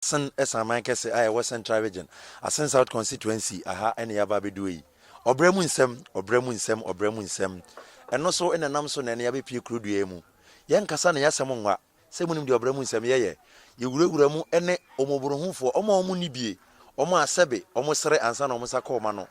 sen asaman kɛse a ɛwɔ Central Region, Asin South Constituency, ha na yɛaba abɛdue yi. Ɔbrɛ mu nsɛm, ɔbrɛ mu nsɛm, ɔbrɛ mu nsɛm. Ɛno so na ɛnam so na ɛnnɛ yɛabɛpue kuro dua yi mu. Yɛnkasa na yɛasɛm nwa, sɛ monim deɛ ɔbrɛ mu nsɛm yɛ yɛ. Yɛwurawura mu ne ɔmɔborohufoɔ, wɔn a wɔnni bie, wɔn a sɛbe wɔsere ansa na wɔn nsa ka wɔn ano.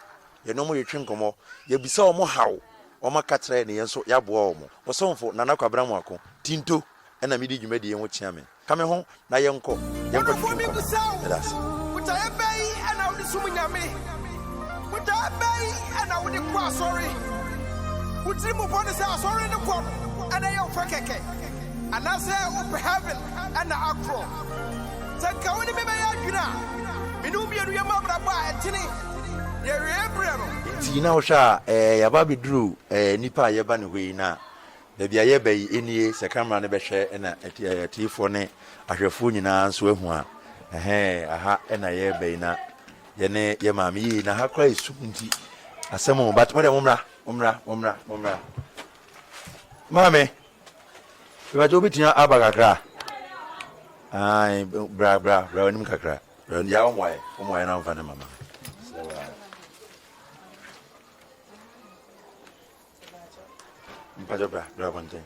Yɛne wɔn yɛtwe nkɔmmɔ, yɛbisa wɔn haw, wɔaka kyerɛ na yɛn nso yɛaboa wɔn. Wo somfo, Nana Kwabena Moako, Tinto, na medi dwumadie yi ho kyeame. Ka me ho na yɛnkɔ, yɛnkɔ twetwe nkɔmmɔ. Yɛda ase. Botaeɛ bɛn na wode som Nyame? Botaeɛ bɛn na wode kɔ asɔre? Wo tiri mu bɔ no sɛ asɔre no kɔ no na ɛyɛ wo pɛ kɛkɛ? Anaasɛ wopɛ heaven na akorɔ? Sɛ nka wone me bɛyɛ adwene a, me ne wo mmienu yɛmmɔ abrabɔ a ɛtene na awieɛ berɛ no. Nti na wohwɛ a, eh, yɛaba abɛduru eh, nnipa a yɛba ne hɔ yi, na Baabi a yɛreba yi, nnie, sɛ Kraman no bɛhwɛ na atiefoɔ ne ahwɛfoɔ nyinaa nso ahu a, ɛhɛɛ, aha na yɛreba yi, na yɛne yɛn maame, yie, na ha koraa yɛ sum nti, asɛm o, but modeɛ mommra, mommra, mommra, mommra. Maame, mebakyɛ wobɛtumi aba kakra? Ae, bra, bra, bra w'anim kakra. Bra, ya wɔn wae, wɔn wae na wɔmfa ne mama. Mpakyɛ bra bra abɔnten.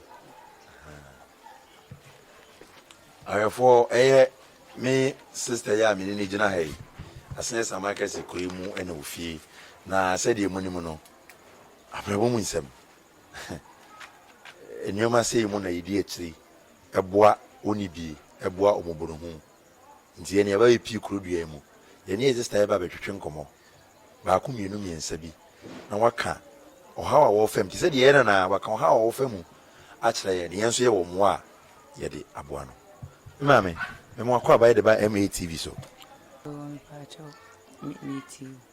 Awɛfoɔ ɛyɛ me sista yi a mene ne gyina ha yi asene sama kɛse kɔi mu ɛna ofie na sɛdeɛ mu nim no abrabɔ mu nsɛm nneɛma sei mu na yɛdi akyiri ɛboa wɔn bie ɛboa wɔn bonohu Nti yɛ nea bɛyɛ pii kuro dua yi mu. Yɛne yɛ sista yɛba bɛtwetwe nkɔmmɔ baako mmienu mmiɛnsa bi na waka ɔhaw a wɔrefa mu te sɛ deɛ yɛyɛ no anaa? Waka ɔhaw a wɔrefa mu akyerɛ yɛn na yɛn nso yɛwɔ mmoa a yɛde aboa no. Me maame, me mmoa kɔ aba yɛde ba MATV so. Mpakyɛw, me, me ti o.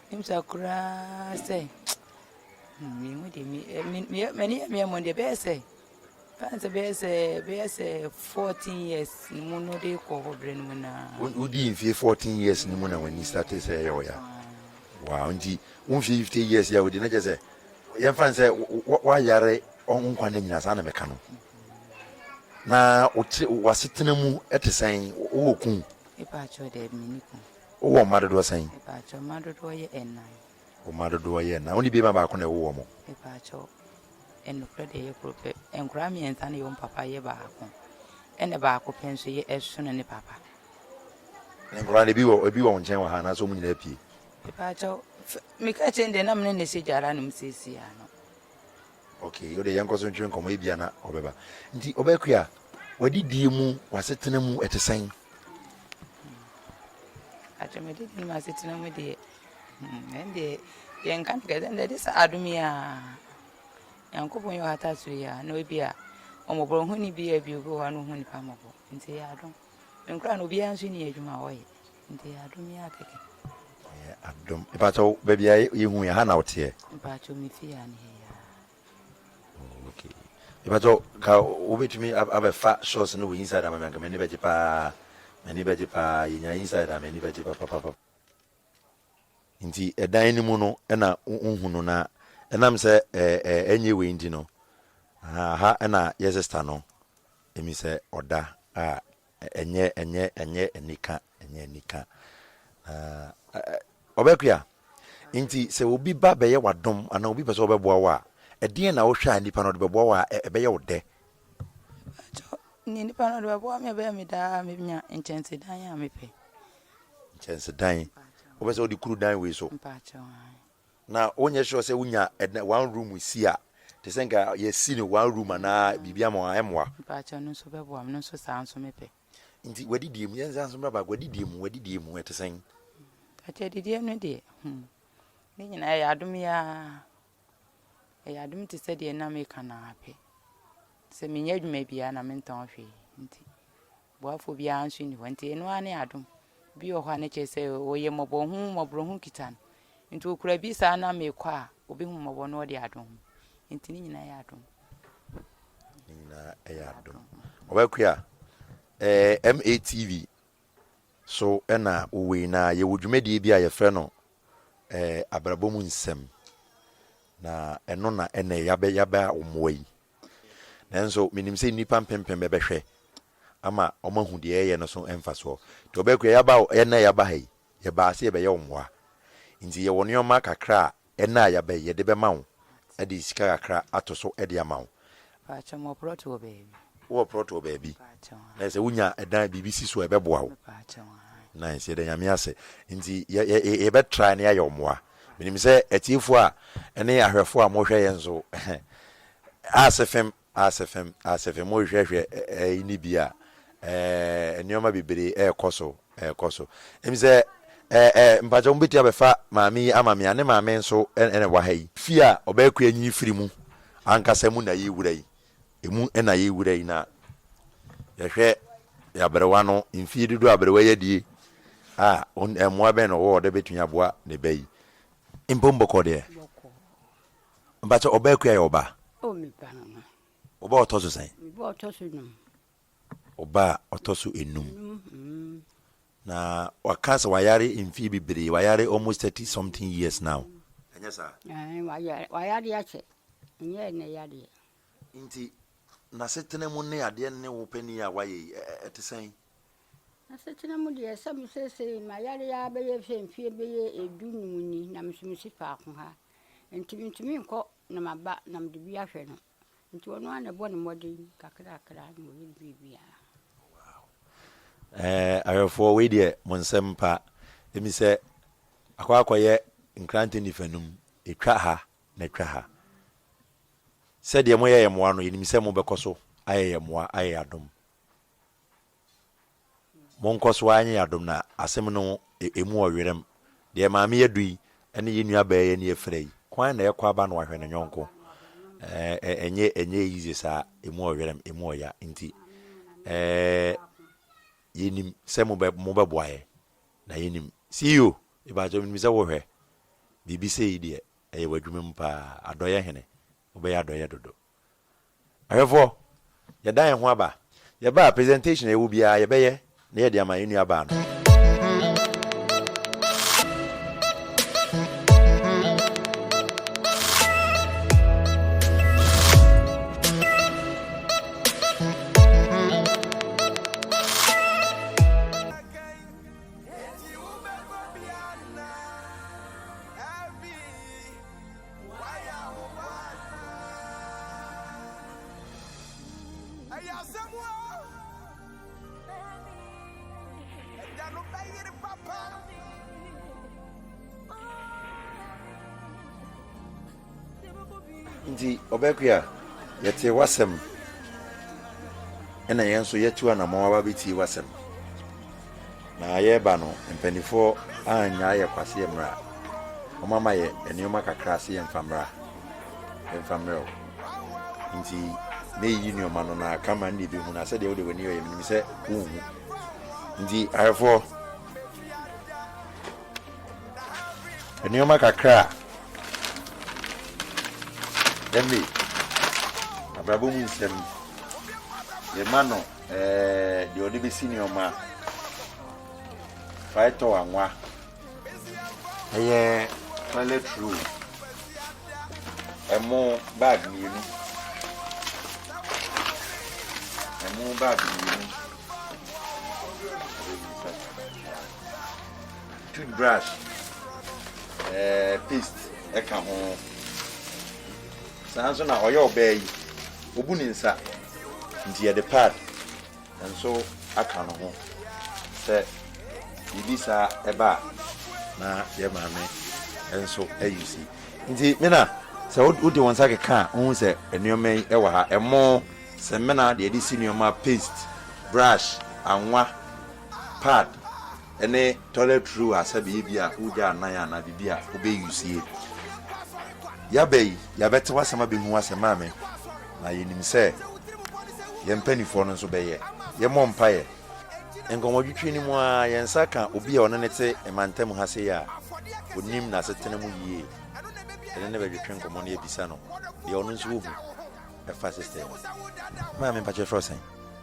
Misa koraa sɛ, me ho de me me m'ani yɛ me mmɔden bɛyɛ sɛ fan sɛ bɛyɛ sɛ bɛyɛ sɛ fourteen years ne mu no de kɔ hɔ berɛ no mu na. wodi mfie fourteen years ne mu na w'ani sate sɛ ɛyɛ ɔya waa nti wo mfie fifty years yɛ wodi na kyɛ sɛ yɛmfa n sɛ woayare nkwa no nyina saa na meka no na wote wasetena mu te sɛn wowɔ kun. Epa akyɛw dɛ mini kun. Wowɔ mma dodoɔ sɛn? Mepaakyɛw, mma dodoɔ yɛ nnan. Wo mma dodoɔ yɛ nnan. Wo ne beema baako na ɛwo wɔn? Mepaakyɛw, nokorɛ deɛ ɛyɛ koro pɛ. Nkoraa mmiɛnsa na ɛwɔ mu papa yɛ baako. Ɛna baako pɛ nso yɛ ɛsono ne papa. Na nkoraa no, ebi wɔ wo nkyɛn wɔ ha anaasɛ wɔn nyinaa apue? Mepaakyɛw, meka kyerɛ no deɛ na me ne no hyɛ gya ara nom seesei ara no. Okay, wode yɛnkɔ so ntwe nkɔmmɔ, ebia na ɔbɛba. Nti Obakua, w'adidie mu, w'asetena mu, ɛte sɛn? Atwa m'adidie mu asetena mu deɛ, hmm, ɛndeɛ yɛnka no kɛsɛ ɛndeɛ de sɛ adom yi a nyankopɔn yɛ ɔhata so yi a na ebi a ɔmmɔborɔ ho ne bi a bi obi wɔ hɔ a na ɔhu nipa mmɔbɔ nti yɛ adom menkora no obiara nso ni adwuma a ɔyɛ Nti yɛ adom yi akɛkɛ. Yɛ adom. Mpakyɛ wo baabi a yɛ hu yɛ ha na wo teɛ? Mpakyɛ wo me fie ha ne yɛ yɛ a. Oh ok. Mpakyɛ wo ka wo betumi abɛ fa shots no wɔ inside ama me anka m'ani bɛgye paa. M'ani bɛgye paa. Yɛ nya inside a m'ani bɛgye papapapa. Nti ɛdan no mu no na wo hu no na ɛnam sɛ ɛnyɛ wei nti no, aha, aha na yɛ sister no emi sɛ ɔda a Ɛnyɛ, ɛnyɛ, ɛnyɛ anika, ɛnyɛ anika. Na ɛ, ɛ, Ɔbɛkoa, nti sɛ obi ba bɛyɛ w'adom anaa obi pɛ sɛ ɔbɛboa wo a, ɛdeɛn na wohwɛ a nipa no ɔde bɛboa wo a ɛ, ɛbɛyɛ wo dɛ? Mpakyɛw, neɛ nipa no ɔde bɛboa me a ɛbɛyɛ me dɛ a mɛnya nkyɛnsedan a mepɛ. Nkyɛnsedan? Mpakyɛw. Wopɛ sɛ wode kuru dan wei so? Mpakyɛw, aane. Na wonyɛ sure sɛ wonya ɛdan one room si a te sɛ nka yɛsi no one room anaa biribi ama wɔn a ɛmmoa. Mpakyɛw no nso bɛboa me no nso saa nso mepɛ. Nti w'adidie mu yɛnsan nso mmra baako adidie mu w'adidie mu ɛte sɛn. Mpakyɛw adidie no deɛ hmm ne nyinaa ɛyɛ adom yaa ɛyɛ adom te sɛ deɛ nam eka naa pɛ sɛ menyɛ adwuma biara na mentɔn hwee nti. Boafoɔ biara nso nni hɔ. Nti ɛno ara ne adom. Bi wɔ hɔ a na kyerɛ sɛ ɔyɛ mmɔbɔ ho mmɔborɔ ho kita no. Nti ɔkura bi saa na meekɔ a, ɔbɛhu mmɔbɔ na ɔde adom ho. Nti ne nyinaa yɛ adom. Ne nyinaa yɛ adom. Ɔbɛkoa, eh, MATV so na wowei na yɛwɔ dwumadie bi a yɛfrɛ no eh, abrabɔ mu nsɛm. Na ɛno na ɛnɛ yɛabɛ yɛabɛ a wɔmmoa yi. Nanso menim sɛ nnipa mpempem bɛbɛhwɛ ama wɔahu deɛ yɛyɛ no so mfasoɔ. Deɛ ɔbɛyɛ koraa, yɛaba hɔ, ɛnnɛ a yɛaba ha yi, yɛbaa sɛ yɛbɛyɛ wo mmoa. Enti yɛwɔ nneɛma kakra a ɛnnɛ a yɛaba yi, yɛde bɛma wo de sika kakra ato so de ama wo. Mpakyɛw, mewɔ prɔt wɔ baabi. Wowɔ prɔt wɔ baabi? Mpakyɛw, aane. Na sɛ wonya dan a biribi si so a, ɛbɛboa wo? Mpakyɛw, aane. Nice, yɛda Nyame ase. Nti yɛ, yɛ, yɛbɛtry na yɛayɛ wo mmoa. Minim sɛ atiefo a ne ahwɛfo a mohwɛ yɛn so asefem asefem asefem mohwehwɛhwɛ ɛyi ne bi a, nneɛma bebree ɛrekɔ so ɛrekɔ so. Ɛmi sɛ ɛɛ mpakyɛ wɔn bɛtumi abɛfa maame yi ama me a, ne maame nso ɛna ɛwɔ ha yi. Fie a ɔbɛɛkoe anyini firi mu ankasa mu na yɛwura yi. Emu na yewura yi na yɛhwɛ yɛn aberewa no mfeɛ dodoɔ a aberewa yi adie a mmoa bɛn na ɔwɔ ɔde bɛtumi aboa ne ba yi. Mpom bɔkɔɔ deɛ? Bɔkɔɔ. Mpakyɛ ɔba akua yɛ ɔba? Oh me ba no no. Ɔba ɔtɔ so sɛn? Me ba ɔtɔ so num. ɔba a ɔtɔ so enum na waka sɛ wayare mfie bebree wayare almost thirty something years now ɛnyɛ saa wayare akyɛ ɛnyɛ ɛnɛ yadeɛ nti n'asetena mu ne adeɛ ne wo panin a wayɛ yi ɛte sɛn asetena mu deɛ sɛ me seesei mayare a bɛyɛ sɛ mfie bɛyɛ edu num ni na mesomesi faako ha nti mentumi nkɔ na maba na mede bi ahwɛ no Nti ɔno ara na ɛbɔ no mmɔden kakrakra na ɔyɛ ne biribiara. Ɛɛ awɛfoɔ wei deɛ mo nsɛm pa emi sɛ akɔ akɔyɛ nkrantɛ nifanum etwa ha na etwa ha sɛdeɛ mo yɛ yɛ mmoa no yɛnim sɛ mo bɛkɔ so ayɛ yɛ mmoa ayɛ yɛ adom. Mo nkɔ so ara nyɛ yɛn adom na asem no emu wɔ werem. Deɛ Maame Adu yi ne yɛn nua baa yi ani afira yi, kwan na ɛkɔ aba na wahwɛ ne yɔnko. Ɛɛ, ɛnyɛ, ɛnyɛ easy saa, emu wɔ werem, emu wɔ ya. Nti, ɛɛ, yɛnim sɛ mobɛ, mobɛboa yɛn. Na yɛnim, CEO, mepakyɛ, menim sɛ wohwɛ. Biribi sei deɛ, ɛyɛ w'adwuma mu paa. Adɔeɛ Hene, wobɛyɛ adɔeɛ dodo. Ahwɛfoɔ, yɛda yɛn ho aba. Yɛba a, presentation a yɛwɔ biara, yɛbɛyɛ na yɛde ama yɛn nuabaa no. Wayɛ ahoboa asa. Ɛyɛ asɛm o. Ɛda no bɛyere papa. Nti ɔbɛkwe a yɛtee w'asɛm ɛna yɛn nso yɛtu anamɔn aba bɛtie w'asɛm. Na yɛreba no, mpaninfoɔ annyaa yɛ kwa se yɛmmra. Wɔama yɛ nneɛma kakra se yɛmfa mmra, yɛmfa mmerɛ wo. Enti mereyi nneɛma no, na ka ma nneɛ bɛhu, na sɛdeɛ wode w'ani yɔeɛ, menim sɛ wonhu. Enti ayɛfoɔ, nneɛma kakra a ɛme abrabɔ mu nsɛm, yɛma no. deɛ ɔde bɛsi nneɛma faetɔ anwa ɛyɛ toilet roll ɛmo bag mmienu ɛmo bag mmienu toothbrush ɛɛ paste ɛka ho. Saa ara nso na ɔyɛ ɔbaa yi, obu ne nsa, enti yɛde pad nso aka no ho sɛ biribi saa ba a na yɛn maame nso ayusi. Enti Mena, sɛ wode wo nsa keka a, wuhu sɛ nneɛma yi wɔ ha, ɛmo, samina, deɛ yɛde si nneɛma, paste, brush, anwa, pad. ne toilet roll a sɛ bɛyɛ bi a wogyaa nan anaa biribi a wobɛ use yɛ. Yɛaba yi yɛabɛtew asɛm abɛhu asɛm a me na yɛnim sɛ yɛn mpaninfoɔ no nso bɛyɛ. Yɛmmɔ mpaeɛ. Nkɔmmɔdwetwe no mu ara yɛn nsa ka obi a ɔne no te mantam ha sei a ɔnim n'asetena mu yie. Yɛne no bɛdwetwe nkɔmmɔ na yɛabisa no deɛ ɔno nso ɔhu ɛfa sister yi ho. Maame mpakyɛ yɛfrɛ wo sɛn?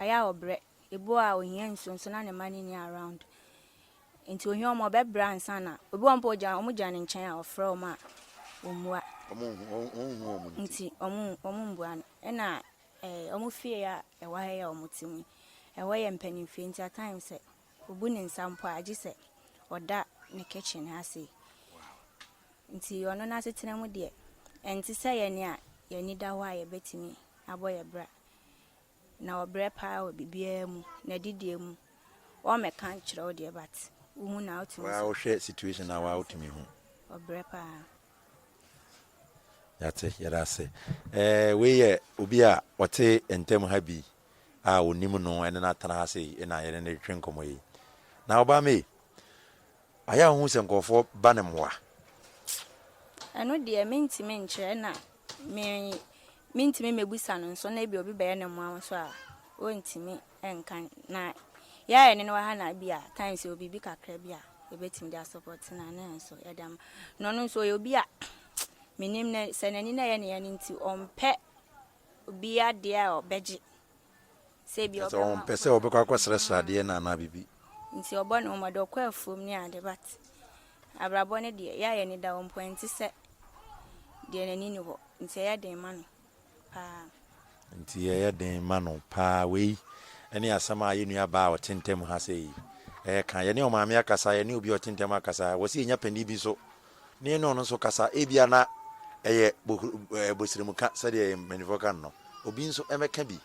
Ɔyɛ a ɔbrɛ. Ebu a ohia nsuo nso na ne mma no nni around. Nti ohia wɔn a ɔbɛbrɛ ansa na ebi wɔ hɔ mpo ogya wɔn gyina ne nkyɛn a ɔfrɛ wɔn a wɔmmua. Wɔnhu wɔn nti. Nti wɔn mmbua no. Ɛna ɛɛ wɔn fie a ɛwɔ ha yi a wɔte mu yi, ɛhɔ yɛ mpanimfie nti at times sɛ obu ne nsa mpo a gye sɛ ɔda ne kitchen ha sei. Nti ɔno n'asetena mu deɛ ɛnte sɛ yɛn a yɛn ani da hɔ a yɛbɛtumi abɔ yɛn bra. na ɔbrɛ paa wɔ biribiara mu, n'adidie mu, ɔmmɛka nkyerɛ wo deɛ but wohu no a wotumi sɛ. Waa wohwɛ situation no a waa wotumi hu. Ɔbrɛ paa. Yɛate, yɛda ase. Ɛɛ wei yɛ obi a ɔte ntam ha bi a ɔnim no ɛne no atena ha sei na yɛne no retwetwe nkɔmmɔ yi. Na Obame, Ayɛ a wohu sɛ nkurɔfoɔ ba no mmoa. Ɛno deɛ mentumi nkyerɛ na me mentumi mmɛbusa no nso na ebia obi bɛyɛ no mmoa nso a ɔntumi nka na yɛ a yɛne no wɔ ha na ebia times yɛwɔ biribi kakra bi a yɛbɛtumi de asɔpɔte no a ne nso yɛde ama na ɔno nso ɔyɛ obi a menim no sɛ n'ani na ɛyɛ ne yɛ no nti ɔmpɛ obi adeɛ a ɔbɛgye Sɛ ebia ɔbɛma akɔnnɔ. Sɛ ɔmpɛ sɛ ɔbɛkɔ akɔsrɛsrɛ adeɛ no anaa biribi. Nti ɔbɔ ne ho mmɔden, ɔkɔ afuom ne ade but abrabɔ no deɛ, yɛ a yɛn ani da hɔ mpo ɛnte sɛ deɛ n'ani nni hɔ. Nti ɛyɛ den ma no paa. Nti ɛyɛ den ma no paa. Wei ne asɛm a yɛn nuabaa a ɔte ntam ha sei reka. Yɛne ɔmaame akasa, yɛne obi a ɔte ntam akasa. Ɛwɔ sɛ yɛnya panin bi nso na yɛne ɔno nso kasa. Ebia na ɛyɛ bosrɛmuka sɛdeɛ yɛn mpanimfoɔ ka no no. Obi nso mmɛka bi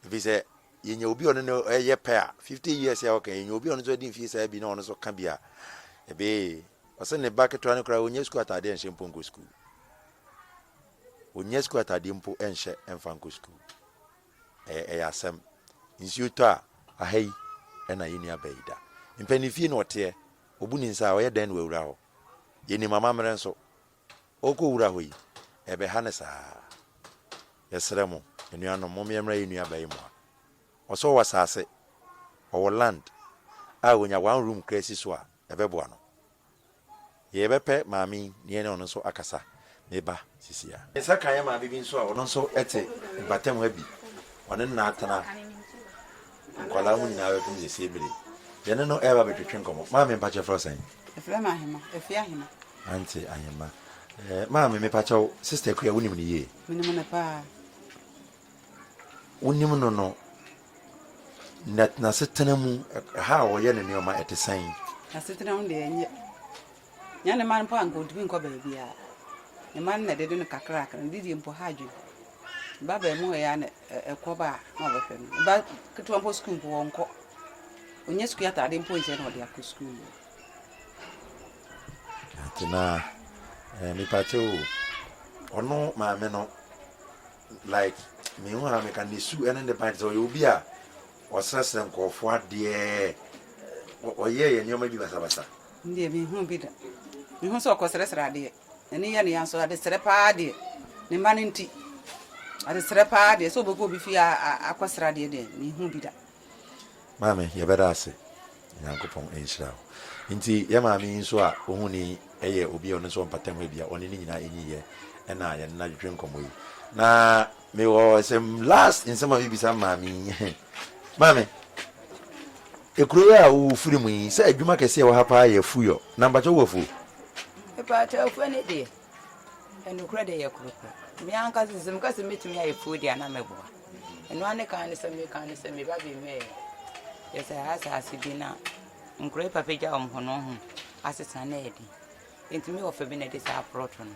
Efisɛ yenya obi a ɔne no yɛ pɛ a, fifty years a ɔka yi, yenya obi a ɔno nso adi mfe saa bi na ɔno nso ka bi a, ɛbɛyɛ ye. Ɔse ne ba ketewa no koraa, onnya sukuu atade nhyɛ mpo nkɔ sukuu. Onnya sukuu atade mpo nhyɛ mfa nkɔ sukuu. Ɛyɛ, ɛyɛ asɛm. Nsuo tɔ a, aha yi na yɛn nua baa yi da. Mpɛn ne fie na ɔteɛ, obu ne nsa a, ɔyɛ dɛn na wawura hɔ? Yɛnim amammerɛ nso. ɔrekɔwura hɔ yi, ɛbɛha no saa. Yɛsrɛ mo, anuanom, mom yɛmmra yɛn nuabaa yi mmoa. Ɔsɛ ɔwɔ asase, ɔwɔ land a ɔnya one room koraa si so a, ɛbɛboa no. Yɛbɛpɛ maame yi na yɛne ɔno nso akasa, ne ba sisi a. Ne nsa ka yɛn maame bi nso a ɔno nso te mpatamu ha bi, ɔne no na atena. Nkwadaa mo nyinaa bɛpem sɛ sie bere. Yɛne no reba abɛtwetwe nkɔmmɔ. Maame, mepa kyɛw, frɛ sɛn? Frɛ me Ahema, Afie Ahema. Auntie Ahema. Eh, maame, mepa kyɛw, Sister Akua, wonim no yie? Menim no paa. Wonim no no, na n'asetena mu, ɛha a ɔyɛ ne nneɛma, ɛte sɛn? N'asetena mu deɛ, ɛnyɛ. Nyɛ ne mma no mpo a anka ontumi nkɔ baabiara. Ne mma no na ɛdede no kakrakra. Ne didie mpo ha adwene. Ne ba baa mu hɔ yi ara na ɛkɔ ba a na ɔbɛhwɛ no. Ne ba ketewa mpo sukuu mpo ɔnkɔ. Ɔnyɛ sukuu ataadeɛ mpo nhyɛ na ɔde akɔ sukuu mu. Atenaa, eh, mepakyɛ o, ɔno maame no, like, mehu a meka ne su ne ne ban te sɛ ɔyɛ obi a ɔsrɛsrɛ nkurɔfoɔ adeɛ, ɔyɛɛ yɛ nneɛma bi basabasa. Me deɛ menhuu bi da. Mehu sɛ ɔkɔsrɛsrɛ adeɛ. N'ani yɛ ne ya nso adesrɛ paa deɛ, ne mma no nti. Adesrɛ paa deɛ, sɛ ɔbɛkɔ obi fie akɔsrɛ adeɛ deɛ, menhuu bi da. Maame, yɛbɛda ase. Nyankopɔn nhyira wo. Nti yɛ maame yi nso a wohu no yi yɛ obi a ɔno nso wɔ mpatamu ebia ɔne ne nyinaa enyi yɛ na yɛne no adwedwe nkɔmmɔ yi. Na Me wɔ sɛm last nsɛm a me bisa maame yi maame ekuro yi a wo wo firi mu yi sɛ adwuma kɛseɛ ɛwɔ ha paa yɛ afuiɔ na mpakyɛ wo wɔ afuo. Mpakyɛ afuo ne deɛ ɛnukurɛ deɛ yɛ kuro pɛ me ankasa sɛ me ka sɛ mɛtumi ayɛ afuo deɛ na me boa ɛno ane kan ne sɛ me kan ne sɛ me ba bi mɛ yɛ sɛ ha asase bi na nkuro yi papa gya wɔn ho no ho asesa na ɛdi ntumi wɔ fɛ bi na ɛde saa poroto no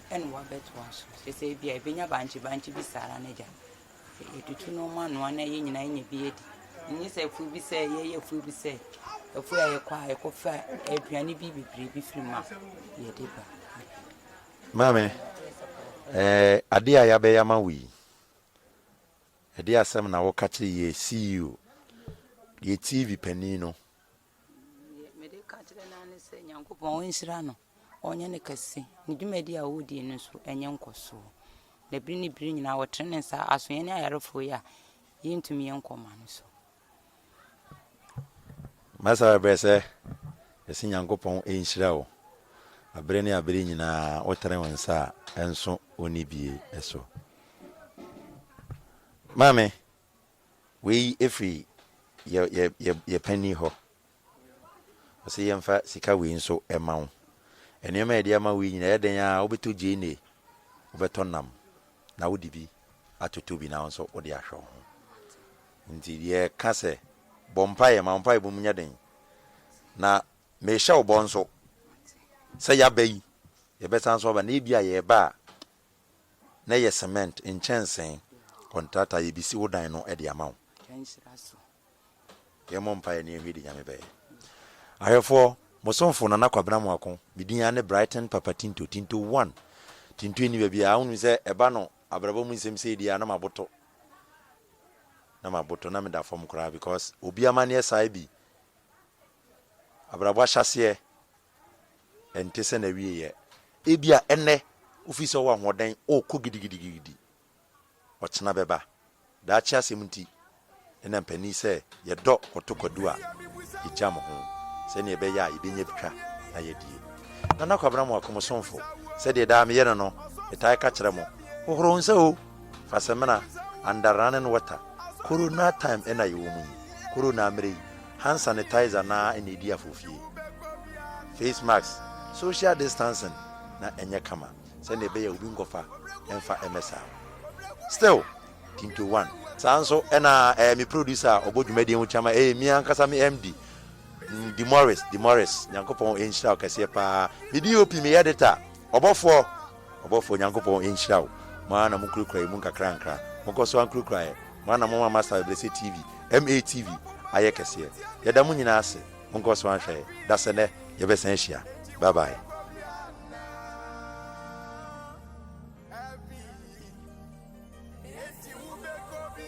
ɛna wabɛtoa so kyerɛ sɛ ebi a ebenya bankye bankye bi saa ara n'agya yɛtutu nneɛma anoa na yɛn nyinaa yɛnya bi adi ɛnyɛ sɛ afuo bi sɛ yɛyɛ afuo bi sɛ afuo a yɛkɔ a yɛkɔfa aduane bi bebree bi firi mu a yɛde ba maame eh, adeɛ a yɛabɛyɛ ama wo yi ɛdeɛ asɛm na woka kyerɛ yɛ ceo yɛ tv panin no Deɛ mede ka kyerɛ no ara ne sɛ Nyankopɔn ɔnhyira no, ɔnyɛ no kɛse. Ne dwumadi a ɔredie no nso ɛnyɛ nkɔsoɔ. Na bere ne bere nyinaa ɔtene ne nsa aso yɛne ayarefoɔ yi a yɛntumi yɛ nkɔma no so. Masa bɛbrɛ sɛ yɛse Nyankopɔn nhyira wo abere ne abere nyinaa wotene wo nsa a ɛnso ɔnibie so. Maame, Wei firi yɛ yɛ yɛ yɛ panin hɔ. Ɔse yɛmfa sika wei nso mma wo. Nneɛma a yɛde ama wo yi nyinaa ɛyɛ dɛn ara a wobɛtɔ gyeene, wobɛtɔ nam na wode bi atoto bi na wo nso wode ahwɛ wo ho. Nti yɛka sɛ bɔ mpaeɛ, ma wo mpaebɔ mu nyɛ den. Na mehyɛ wo bɔ nso sɛ yɛaba yi, yɛbɛsan nso aba na ebia yɛreba a na yɛ cement nkyɛnsee contractor a yɛbisi wo dan no de ama wo. Yɛmmɔ mpaeɛ na yɛnhwɛ deɛ Nyame bɛyɛ. Ahwɛfoɔ, mo somfo Nana Kwabena Moako, me din ara ne Brighton Papa Tinto, Tinto one. Tinto nni baabiara, wonim sɛ ɛba no abrabɔ mu nsɛm sei deɛ a na maboto, na maboto, na meda fam koraa because obi amanneɛ saa bi, abrabɔ ahyɛaseɛ ɛnte sɛ n'awieeɛ. Ebia ɛnnɛ wofii sɛ wowɔ ahoɔden wokɔ gidigidigidi. Ɔkyena bɛba. Daakye asɛm nti, ɛnna mpanin sɛ yɛdɔ kɔto kwadu a, yɛgyam ho sɛdeɛ ɛbɛyɛ a yɛbɛnya bi twa na yɛadie. Nana Kwabena Amoako, mo somfo, sɛdeɛ daa meyɛ no no, metae ka kyerɛ mo, hohoro wo nsa o! Fa samina, under running water, Corona time na yɛwɔ mu yi, Corona mmerɛ yi, hand sanitizer no ara na edi afofie. Face mask, social distancing na ɛnyɛ kama sɛnea ɛbɛyɛ a obi nkɔfa mfa mmɛsa wo. Still, Tinto one. Saa ara nso na ɛyɛ me producer a ɔbɔ dwumadi yi ho kyama, ɛyɛ me ankasa me MD, Demorris, Demorris, Nyankopɔn nhyira wo kɛseɛ paa. Me DOP, me editor, ɔbɔfoɔ. Ɔbɔfoɔ Nyankopɔn nhyira wo, mo ara na mokurakura yɛn mu nkakrankra. Monkɔ so ara nkurakura yɛn. Mo ara na moama Master Abɛbrɛsɛ TV, MATV, ayɛ kɛseɛ. Yɛda mo nyinaa ase. Monkɔ so ara nhwɛ yɛn. Dasɛnɛ, yɛbɛsan ahyia. Bye bye. Enti wobɛkɔ bi?